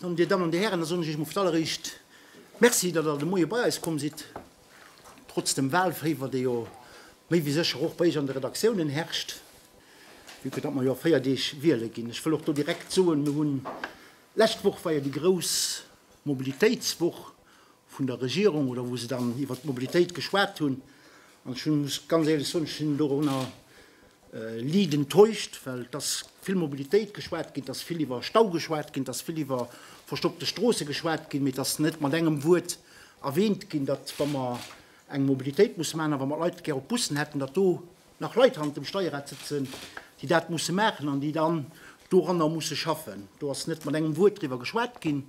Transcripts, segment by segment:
An, Dir Dammen an Dir Hären, da soen ech Iech emol fir d'alleréischt Merci, datt Der de Moie bei eis komm sidd, trotz dem Wahlféiwer, dee jo méi wéi sécher och bei Iech an de Redaktiounen herrscht, vue que datt mer jo a véier Deeg wiele ginn. Ech wëll och do direkt soen, Mir hunn, lescht Woch war jo déi grouss Mobilitéitswoch, vun der Regierung oder wou se dann iwwert d'Mobilitéit geschwat hunn. An ech muss ganz éierlech soen, ech sinn dorunner liit enttäuscht, well et ass vill Mobilitéit geschwat ginn, et ass vill iwwer Stau geschwat ginn, et ass vill iwwer verstoppte Stroosse geschwat ginn, mee et ass net mat engem Wuert erwähnt ginn, datt wa mer eng Mobilitéit musse maachen a wa mer d'Leit gär op Bussen hätten, datt do nach Leit hannert dem Steierrad sëtzen, déi dat musse maachen an déi dann doranner musse schaffen. Do ass net mat engem Wuert driwwer geschwat ginn.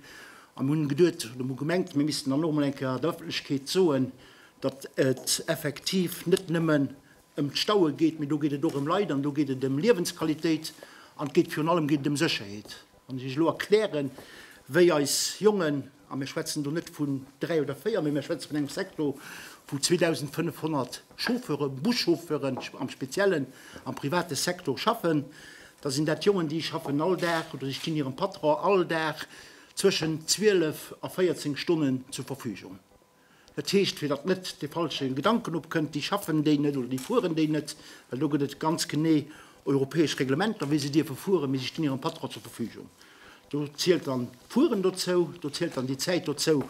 A mir hunn geduet oder mir hu gemengt, mir missten dann och emol eng Kéier der Ëffentlechkeet soen, datt et effektiv net nëmmen ëm d'Staue geet, mee do geet et och ëm Leit an do geet et ëm Liewensqualitéit an et geet virun allem geet et ëm Sécherheet. Wann ech Iech elo erklären, wéi eis Jongen A mir schwätzen do net vun dräi oder véier, mee mir schwätze vun engem Secteur vu 2.500 Chauffeure, Buschauffeuren am Speziellen, am private Secteur schaffen. Da sinn dat Jongen, déi schaffen all Dag oder déi stinn hirem Patron all Dag zwëschen 12 a 14 Stonnen zur Verfügung. Dat heescht, fir datt net de falsche Gedanken opkënnt, déi schaffen déi net oder déi fueren déi net, well do gëtt et ganz genee europäesch Reglementer, wéi se dierfe fueren, mee si stinn hirem Patron zur Verfügung. Do zielt dann d'Fueren dozou, do zielt dann déi Zäit dozou,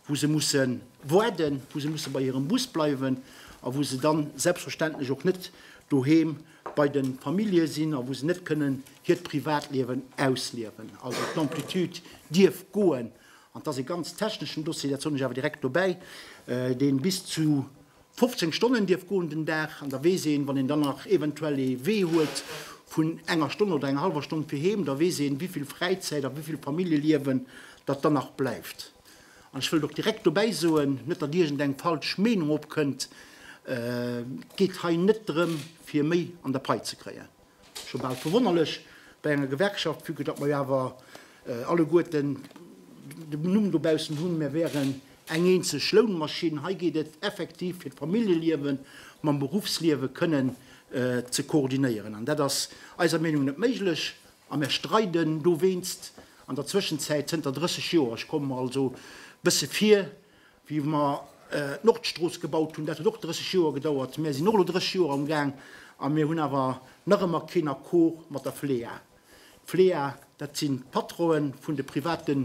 wou se musse waarden, wou se musse bei hirem Bus bleiwen a wou se dann selbstverständlech och net doheem bei de Famillje sinn a wou se net kënnen hiert Privatliewen ausliewen. Also d'Amplitude dierf goen An et ass ee ganz techneschen Dossier, dat soen ech awer direkt dobäi, dee bis zu 15 Stonnen dierf goen den Dag. An da weess een, wann een dann nach eventuell ee Wee huet vun enger Stonn oder enger hallwer Stonn fir heem, da weess een, wéi vill Fräizäit a wéi vill Familljeliewen datt dann nach bleift. An ech wëllt och direkt dobäi soen, net datt iergend eng falsch Meenung opkënnt, et geet hei net drëm, fir méi an der Pai ze kréien. Scho bal verwonnerlech bei enger Gewerkschaft, vue que datt mer jo awer alleguerten den Numm dobaussen hunn, mir wären eng eenzeg Lounmaschinn. Hei geet et effektiv fir d'Familljeliewe mam Beruffsliewe kënnen ze koordinéieren. An dat ass eiser Meenung net méiglech a mir streiden dowéinst an der Zwëschenzäit zënter 30 Joer. Ech kommen mer also e bësse vir wéi mer d'Nordstrooss gebaut hunn, dat huet och 30 Joer gedauert, mir sinn och elo 30 Joer am Gaang a mir hunn awer nach ëmmer keen Accord mat der Flea. D'Flea, dat sinn d'Patronë vun de private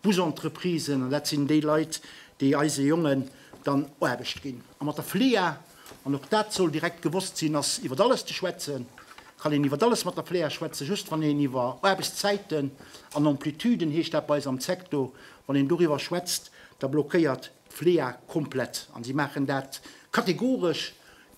Busentreprisen an dat sinn déi Leit, déi eise Jongen dann Aarbecht ginn. A mat der Flea, an och dat soll direkt gewosst sinn, ass iwwer alles ze schwätzen, kann een iwwer alles mat der Flea schwätzen, just wann een iwwer Aarbechtszäiten an Amplitüden, heescht dat bei eis am Secto, wann een doriwwer schwätzt, Da blockéiert d'Flea komplett an si maachen dat kategoresch,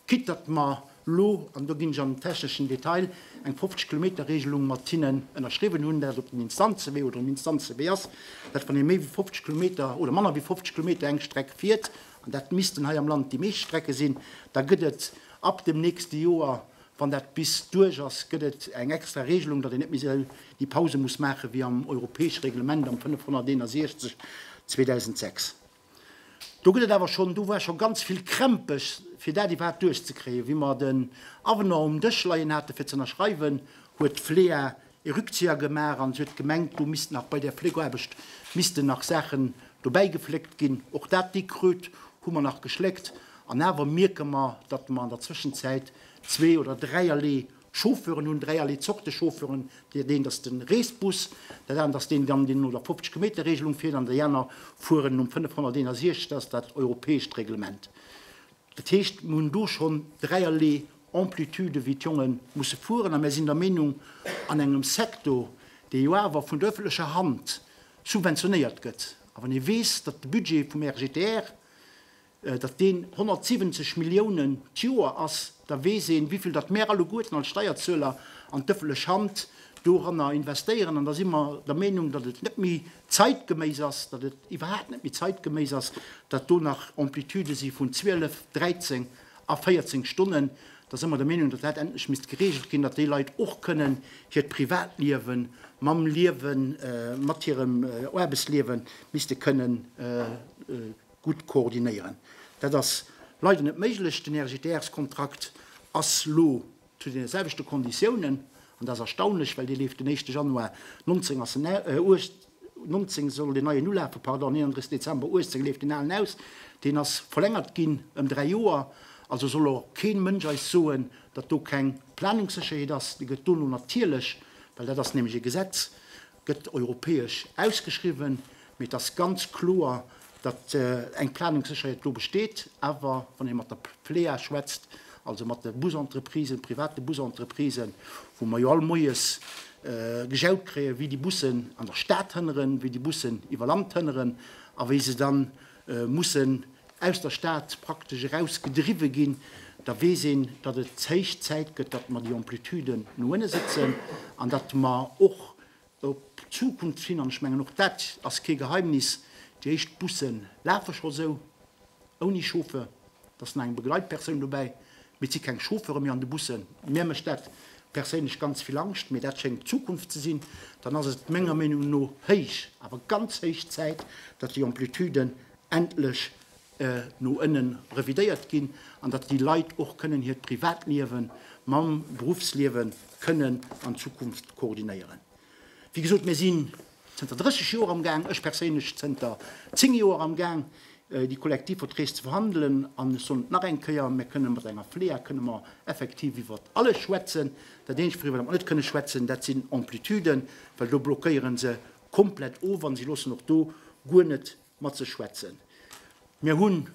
quitt datt mer elo, an do ginn ech an den techneschen Detail, eng 50 Kilometer Regelung mat hinnen ënnerschriwwen hunn, dat op den Instanzewee oder um Instanzewee ass, dat wann ee méi wéi 50 Kilometer oder manner wéi 50 Kilometer eng Streck fiert, an dat missten hei am Land déi meescht Strecke sinn, da gëtt et ab dem nächste Joer Wann dat bis duerch ass, gëtt et eng extra Regelung, datt een net méi esou déi Pause muss maachen, wéi am europäesche Reglement am 561, 2006. Do gëtt et awer schonn, do war scho ganz vill Krämpes, fir dat iwwerhaapt duerchzekréien. Wéi mer den Avenant um Dësch leien hate fir z'ënnerschreiwen, huet d'Flea ee Rückzieher gemaach an si huet gemengt, do misst nach bei där Fléckaarbecht missten nach Saachen dobäi gefléckt ginn. Och dat déck Kröt hu mer nach geschléckt an awer mierke mer, datt mer an der Zwëschenzäit zwee oder dräierlee Chauffeuren hunn, dräierlee Zorte Chauffeuren, dat eent ass de Reesbus, dat anert ass deen, deen no der 50 Kilometer Regelung fiert an déi aner fueren nom 561, dat ass dat europäescht Reglement. Dat heescht, mer hunn do schonn dräierlee Amplitude wéi d'Jonge musse fueren. A mir sinn der Meenung, an engem Secteur, dee jo awer vun der öffentlecher Hand subventionéiert gëtt, a wann ee weess, datt de Budget vum RGTR, datt deen 170 Milliounen d'Joer ass, da weess een, wéi vill datt mär alleguerten als Steierzueler an d'öffentlech Hand doranner investéieren. An da si mer der Meenung, datt et net méi zeitgeméis ass, datt et iwwerhaapt net méi zeitgeméis ass, datt do nach Amplitudë si vun 12, 13, A 14 Stonnen, da si mer der Meenung, datt dat endlech misst geregelt ginn, datt déi Leit och kënnen hiert Privatliewe mam Liewe mat hirem Aarbechtsliewe misste kënne gutt koordinéieren. Dat ass leider net méiglech. Den RGTR-Kontrakt ass elo Zu deene selwechte Konditiounen, an dat ass erstaunlech, well dee leeft den éischte Januar 1919 soll deen neien ulafen, pardon, 31 Dezember 18 leeft deen alen aus. Deen ass verlängert ginn ëm dräi Joer. Also soll och kee Mënsch eis soen, datt do keng Planungssécherheet ass. Déi gëtt dono natierlech, well dat ass nämlech e Gesetz, gëtt europäesch ausgeschriwwen, mee et ass ganz kloer, datt eng Planungssécherheet do besteet. Awer wann ee mat der Plea schwätzt, also mat de Busentreprisen, private Busentreprisen, wou mer jo all Moies gejaut kréien, wéi déi Bussen an der Stad hënneren, wéi déi Bussen iwwer Land hënneren a wéi se dann, mussen aus der Stad praktesch eraus gedriwwe ginn, da weess een, datt et héich Zäit gëtt, datt mer déi Amplituden no ënne sëtzen an datt mer och op d'Zukunft hin, an ech mengen och dat ass kee Geheimnis, déi éischt Busse lafe scho sou ouni Chauffeur. Da sinn nach eng Begleitpersoun dobäi, mee et si keng Chauffeure méi an de Bussen. Mär mécht dat perséinlech ganz vill Angscht, mee dat schéngt d'Zukunft ze sinn. Dann ass et menger Meenung no héich, awer ganz héich Zäit, datt déi Amplituden endlech no ënne revidéiert ginn an datt déi Leit och kënnen hiert Privatliewe mam Beruffsliewe kënnen an Zukunft koordinéieren. Wéi gesot, mir sinn zënter 30 Joer am Gaang, ech perséinlech zënter 10 Joer am Gaang, déi Kollektivverträg ze verhandelen. An ech soen et nach eng Kéier, Mir kënnen mat enger FLEA kënnen mer effektiv iwwer alles schwätzen. Dat Eenzegt, wouriwwer mer net kënnen schwätzen, dat sinn Amplituden, well do blockéiere se komplett of a se loossen och do guer net matzeschwätzen. Mir hunn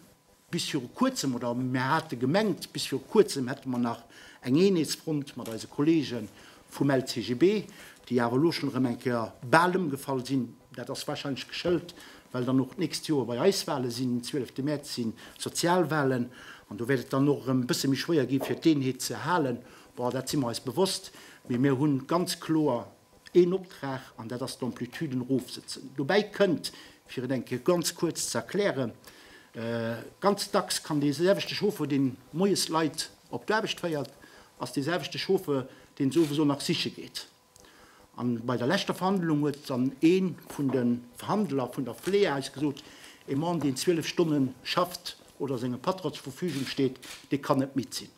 bis viru kuerzem, oder mir hate gemengt, bis viru kuerzem hätte mer nach eng Eenheetsfront mat eise Kollege vum LCGB, déi awer elo schonn erëm eng Kéier bal ëmgefall sinn. Dat ass warscheinlech geschëlt, well dann och d'nächst Joer bei eis Wale sinn. Den 12 Mäerz si Sozialwalen an do wäert et dann och erëm e bësse méi schwéier gi fir d'Eenheet ze halen. Bon, dat si mer eis bewosst, mee mir hu ganz kloer Een Optrag, an dat ass d'Amplituden erofsëtzen. Dobäi kënnt, fir et eng Kéier ganz kuerz ze erklären, Ganz dacks kann dee selwechte Chauffeur, dee moies Leit op d'Aarbecht féiert, ass dee selwechte Chauffeur, deen se owes och nach siche geet. An bei der leschter Verhandlung huet dann ee vun de Verhandler vun der Flea eis gesot, E Mann, deen 12 Stonne schafft oder sengem Patron zur Verfügung steet, dee kann net midd sinn.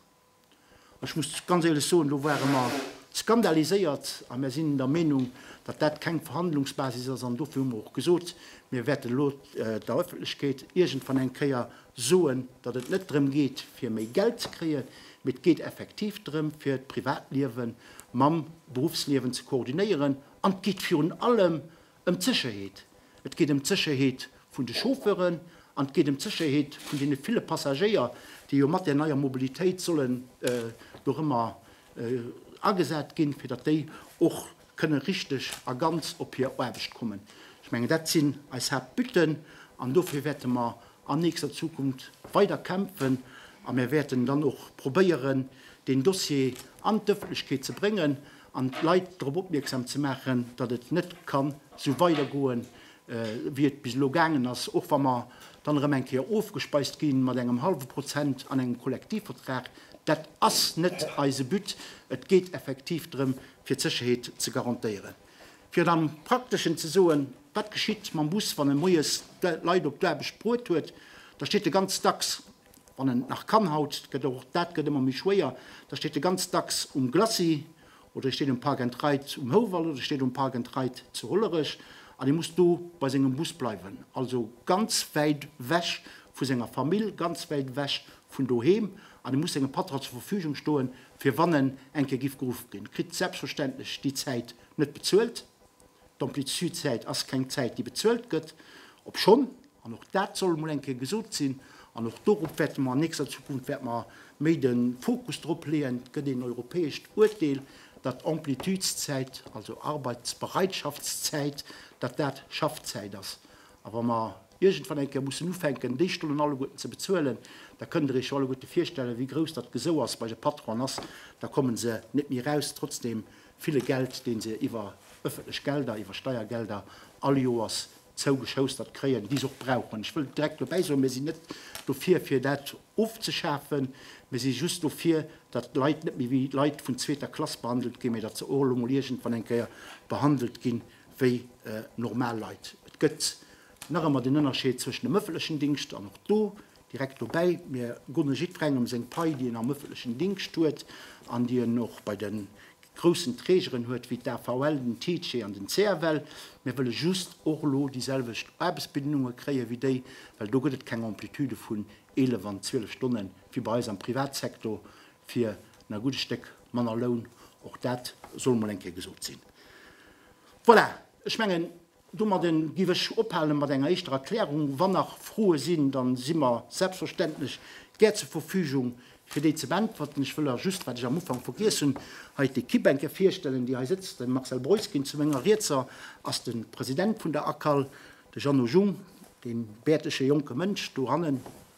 Ech muss ganz éierlech soen, do ware mer skandaliséiert a mir sinn der Meenung, datt dat keng Verhandlungsbasis ass an dofir hu mer och gesot, mir wäerten elo der Ëffentlechkeet iergendwann eng Kéier soen, datt et net drëm geet fir méi Geld ze kréien, mee et geet effektiv drëm fir d'Privatliewe mam Beruffsliewen ze koordinéieren an et geet virun allem Ëm d'Sécherheet, Et geet ëm d'Sécherheet vun de Chauffeuren an et geet ëm d'Sécherheet vun deene ville Passagéier, déi jo mat där neier Mobilitéit sollen do rëmmer agesat ginn, fir datt déi och kënne richteg a ganz op hir Aarbecht kommen. Ech mengen, dat sinn eis Haaptbutten an dofir wäerte mer an nächster Zukunft weider kämpfen a mir wäerten dann och probéieren, deen Dossier an d'Ëffentlechkeet ze bréngen an d'Leit drop opmierksam ze maachen, datt et net kann esou weidergoe wéi et bis elo gaangen ass, och wa mer dann erëm eng Kéier ofgespeist gi mat engem hallwe Prozent an engem Kollektivvertrag. Dat ass net eise But. Et geet effektiv drëm, fir d'Sécherheet ze garantéieren. Fir et am Prakteschen ze soen, Wat geschitt mam Bus, wann e moies d'Leit op d'Aarbecht bruet huet? Da steet e ganz dacks, wann en et nach kann, haut gëtt och dat gëtt ëmmer méi schwéier, da steet e ganz dacks um Glacis oder e steet um Park and Ride um Houwald oder e steet um Park and Ride zu Hollerech an e muss do bei sengem Bus bleiwen. Also ganz wäit wech vu senger Famill, ganz wäit wech vun doheem an e muss sengem Patron zur Verfügung stoen, fir wann en eng Kéier giff geruff ginn, kritt selbstverständlech déi Zäit net bezuelt. D'Amplitudezäit ass keng Zäit, déi bezuelt gëtt, obschonn, an och dat soll emol eng Kéier gesot sinn, an och dorop wäerte mer an nächster Zukunft wäerte mer méi de Fokus drop leeën, et gëtt een europäescht Uerteel, datt d'Amplitudeszäit, also Arbeitsbereitschaftszäit, datt dat Schaffzäit ass. A wa mer iergendwann eng Kéier mussen ufänken, déi Stonnen alleguerten ze bezuelen, da kënnt Der Iech jo alleguerte virstellen, wéi grouss dat Gesou ass bei de Patronen ass. Da kommen se net méi eraus, trotz deem ville Geld, dee se iwwer öffentlech Gelder, iwwer Steiergelder all Joers zougeschoustert kréien, déi se och brauchen. Ech wëll direkt dobäi soen, Mir sinn net dofir, fir dat ofzeschafen. Mir si just dofir, datt d'Leit net méi wéi Leit vun zweeter Klass behandelt ginn, mä datt se och elo emol iergendwann eng Kéier behandelt ginn, wéi normal Leit. Et gëtt nach ëmmer den Ënnerscheed zwëschen dem ëffentlechen Dingscht an och do, direkt dobäi, mir gunne jiddwerengem seng Pai, déi en am ëffentlechen Dingscht huet an déi en och bei de groussen Trägeren huet, wéi d'AVL, den TICE an den CFL. Mir wëlle just och elo déiselwecht Aarbechtsbedingungen kréie wéi déi, well do gëtt et keng Amplitude vun 11 an 12 Stonne wéi bei eis am Privatsector, fir en a gudde Stéck manner Loun, och dat soll mol eng Kéier gesot sinn. Voilà, ech mengen, domadde géif ech ophalen mat enger éischter Erklärung. Wann nach Froe sinn, da si mer selbstverständlech gär zur Verfügung, fir déi ze beäntwerten. Ech wëll der just, wat ech am Ufank vergiess hunn, hei d'Equipe-Bänke virstellen, déi hei sëtzt. Den Marcel Breuskin zu menger Rietser ass de President vun der ACAL, de Jeannot Jung, dee bäertege jonke Mënsch do hannen,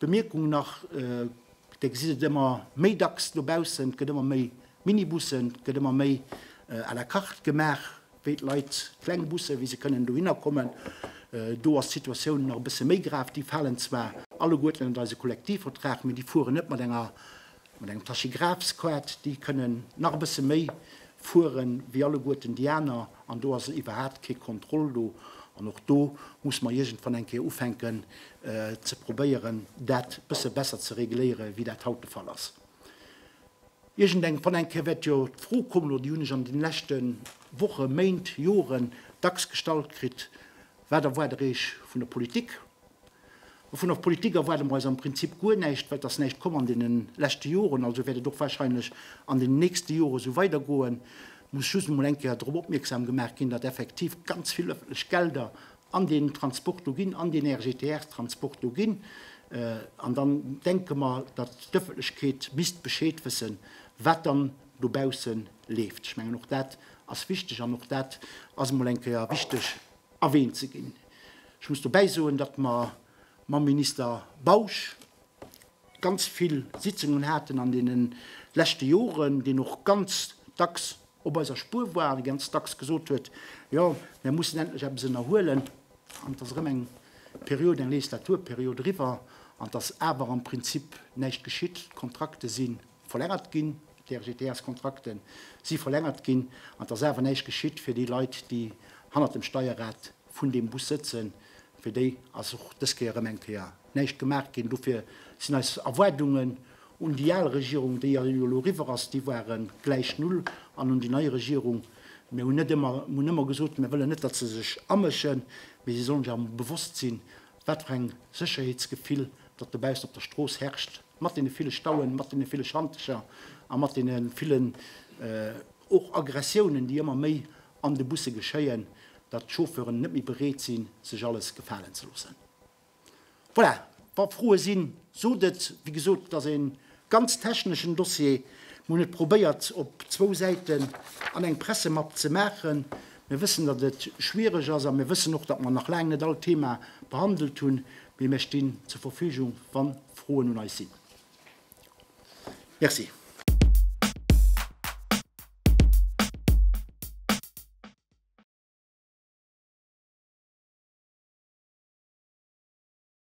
Bemierkung nach, Dir gesitt et ëmmer méi dacks dobaussen, et gëtt ëmmer méi Minibussen, et gëtt ëmmer méi à la carte gemaach, wéi d'Leit, kleng Busse, wéi se kënnen dohinner kommen. Do ass d'Situatioun nach e bësse méi grav. Déi falen zwar alleguerten ënnert eise Kollektivvertrag, mee déi fueren net mat enger Mat engem Tachygraph-Squad, déi kënnen nach e bësse méi fuere wéi alleguerten déi aner, an do ass iwwerhaapt kee Contrôle do. An och do muss mer iergendwann eng Kéier ufänken ze probéieren, dat e bësse besser ze regléiere wéi dat haut de Fall ass. Iergendwann eng Kéier wäert jo d'Fro kommen, oder déi hunn ech an deene leschte Woche, Méint, Joren dacks gestallt kritt, Wat erwaart der Iech vun der Politik? Dovun och Politik erwaarde mer eis am Prinzip guer näischt, well et ass näischt komm an deene leschte Joren, also wäert et och warscheinlech an deene nächste Jore sou weidergoen. Et muss just emol eng Kéier drop opmierksam gemaach ginn, datt effektiv ganz vill ëffentlech Gelder an deen Transport do ginn, an deen RGTR-Transport do ginn. An dann denke mer, datt d'Ëffentlechkeet misst Bescheed wëssen, wat dann dobausse leeft. Ech mengen, och dat ass wichteg an och dat ass emol eng Kéier wichteg, erwähnt ze ginn. Ech muss dobäi soen, datt mer mam Minister Bausch ganz vill Sitzungen haten an deene leschte Joren, deen och ganz dacks op eiser Spuer war an ganz dacks gesot huet, jo, mir mussen endlech eppes ënnerhuelen an et ass erëm eng Period, eng Legislaturperiod eriwwer an et ass awer am Prinzip näischt geschitt. D'Kontrakte si Verlängert ginn. D'RGTS-Kontrakten si verlängert ginn an et ass awer näischt geschitt fir déi Leit, déi hannert dem Steierrad vun deem Bus sëtzen. Fir déi ass och dës Kéier erëm eng Kéier näischt gemaach ginn. Dofir sinn eis Erwaardungen un déi al Regierung, déi jo elo eriwwer ass, déi ware gläich null, an un déi nei Regierung, mir hunn net ëmmer, mir hunn ëmmer gesot, mir wëllen net, datt se sech amëschen, mee si sollen sech awer bewosst sinn, wat fir eng Sécherheetsgefill datt dobaussen op der Strooss herrscht. Mat deene ville Stauen, mat deene ville Schantercher a mat deene villen och Aggressiounen, déi ëmmer méi an de Busse geschéien, datt d'Chauffeuren net méi bereet sinn, sech alles gefalen ze loossen. Voilà, wa Froe sinn, sot et. Wéi gesot, et ass e ganz techneschen Dossier. Mir hunn et probéiert op zwou Säiten an eng Pressemapp ze maachen. Mir wëssen, datt et schwiereg ass a mir wëssen och, datt mer nach laang net all d'Thema behandelt hunn. Mee mir stinn zur Verfügung, wa Froen un eis sinn. Merci.